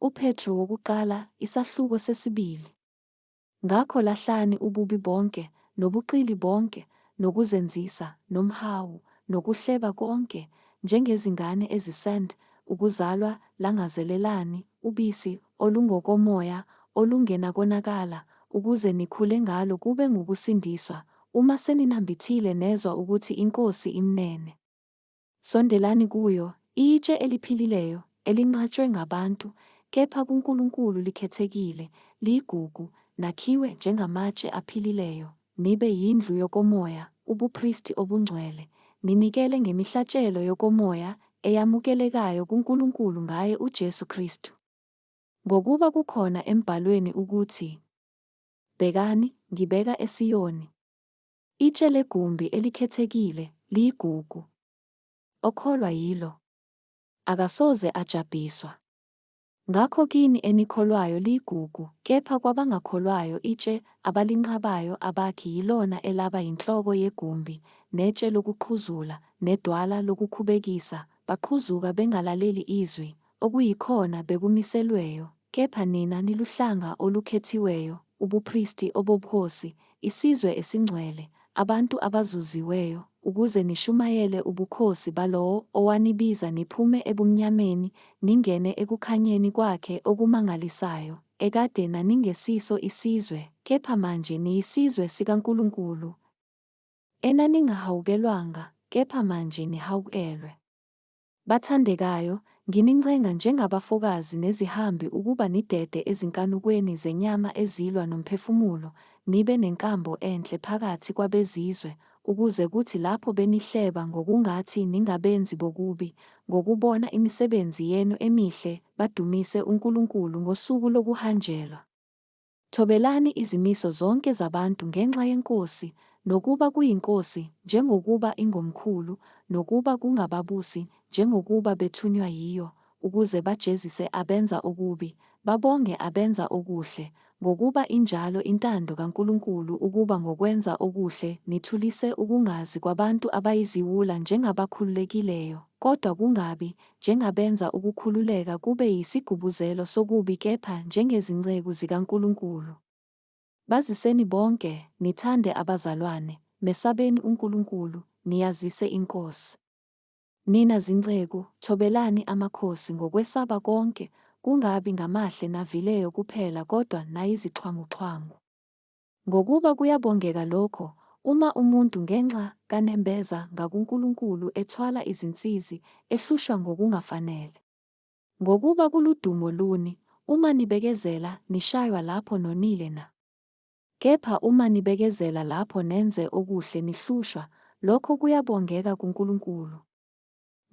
UPetru wokuqala, isahluko sesibili. Ngakho lahlani ububi bonke, nobuqili bonke, nokuzenzisa, nomhawu, nokuhleba konke, njengezingane ezisand ukuzalwa, langazelelani ubisi olungokomoya, olungenakonakala, ukuze nikhule ngalo kube ngukusindiswa, uma seninambithile nezwa ukuthi iNkosi imnene. Sondelani kuyo, itshe eliphilileyo, elinqatshwe ngabantu, kepha kuNkulunkulu likhethekile, liyigugu, nakhiwe njengamatshe aphilileyo, nibe yindlu yokomoya, ubupristi obungcwele, ninikele ngemihlatshelo yokomoya eyamukelekayo kuNkulunkulu ngaye uJesu Kristu. Ngokuba kukhona emBhalweni ukuthi, Bhekani, ngibeka eSiyoni. Itshe legumbi elikhethekile liyigugu. Okholwa yilo akasoze ajabhiswa. Ngakho kini enikholwayo liyigugu, kepha kwabangakholwayo itshe abalinqabayo abakhi yilona elaba yinhloko yegumbi, netshe lokuqhuzula, nedwala lokukhubekisa, baqhuzuka bengalaleli izwi, okuyikhona bekumiselweyo, kepha nina niluhlanga olukhethiweyo, ubupristi obobukhosi, isizwe esingcwele, abantu abazuziweyo, ukuze nishumayele ubukhosi balowo owanibiza niphume ebumnyameni ningene ekukhanyeni kwakhe okumangalisayo, ekade naningesiso isizwe, kepha manje niyisizwe sikaNkulunkulu, enaningahawukelwanga, kepha manje nihawukelwe. Bathandekayo, nginincenga njengabafokazi nezihambi ukuba nidede ezinkanukweni zenyama ezilwa nomphefumulo, nibe nenkambo enhle phakathi kwabezizwe, ukuze kuthi lapho benihleba ngokungathi ningabenzi bokubi, ngokubona imisebenzi yenu emihle, badumise uNkulunkulu ngosuku lokuhanjelwa. Thobelani izimiso zonke zabantu ngenxa yenkosi, nokuba kuyinkosi, njengokuba ingomkhulu, nokuba kungababusi, njengokuba bethunywa yiyo, ukuze bajezise abenza okubi, babonge abenza okuhle, ngokuba injalo intando kaNkulunkulu ukuba ngokwenza okuhle nithulise ukungazi kwabantu abayiziwula njengabakhululekileyo, kodwa kungabi njengabenza ukukhululeka kube yisigubuzelo sokubi kepha njengezinceku zikaNkulunkulu. Baziseni bonke, nithande abazalwane, mesabeni uNkulunkulu, niyazise iNkosi. Nina zinceku, thobelani amakhosi ngokwesaba konke, kungabi ngamahle navileyo kuphela kodwa nayizixhwanguxhwangu. Ngokuba kuyabongeka lokho, uma umuntu ngenxa kanembeza ngakuNkulunkulu ethwala izinsizi, ehlushwa ngokungafanele. Ngokuba kuludumo luni, uma nibekezela, nishaywa lapho nonile na? Kepha uma nibekezela lapho nenze okuhle nihlushwa, lokho kuyabongeka kuNkulunkulu.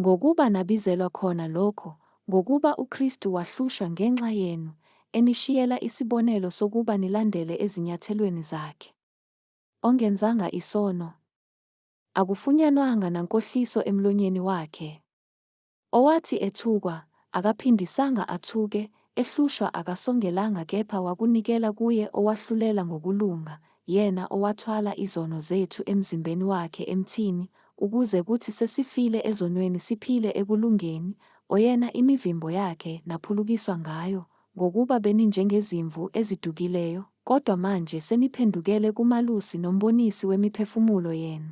Ngokuba nabizelwa khona lokho, ngokuba uKristu wahlushwa ngenxa yenu, enishiyela isibonelo sokuba nilandele ezinyathelweni zakhe. Ongenzanga isono. Akufunyanwanga nankohliso emlonyeni wakhe. Owathi ethukwa, akaphindisanga athuke, Ehlushwa akasongelanga kepha wakunikela kuye owahlulela ngokulunga, yena owathwala izono zethu emzimbeni wakhe emthini, ukuze kuthi sesifile ezonweni siphile ekulungeni, oyena imivimbo yakhe naphulukiswa ngayo, ngokuba beninjengezimvu ezidukileyo, kodwa manje seniphendukele kuMalusi noMbonisi wemiphefumulo yenu.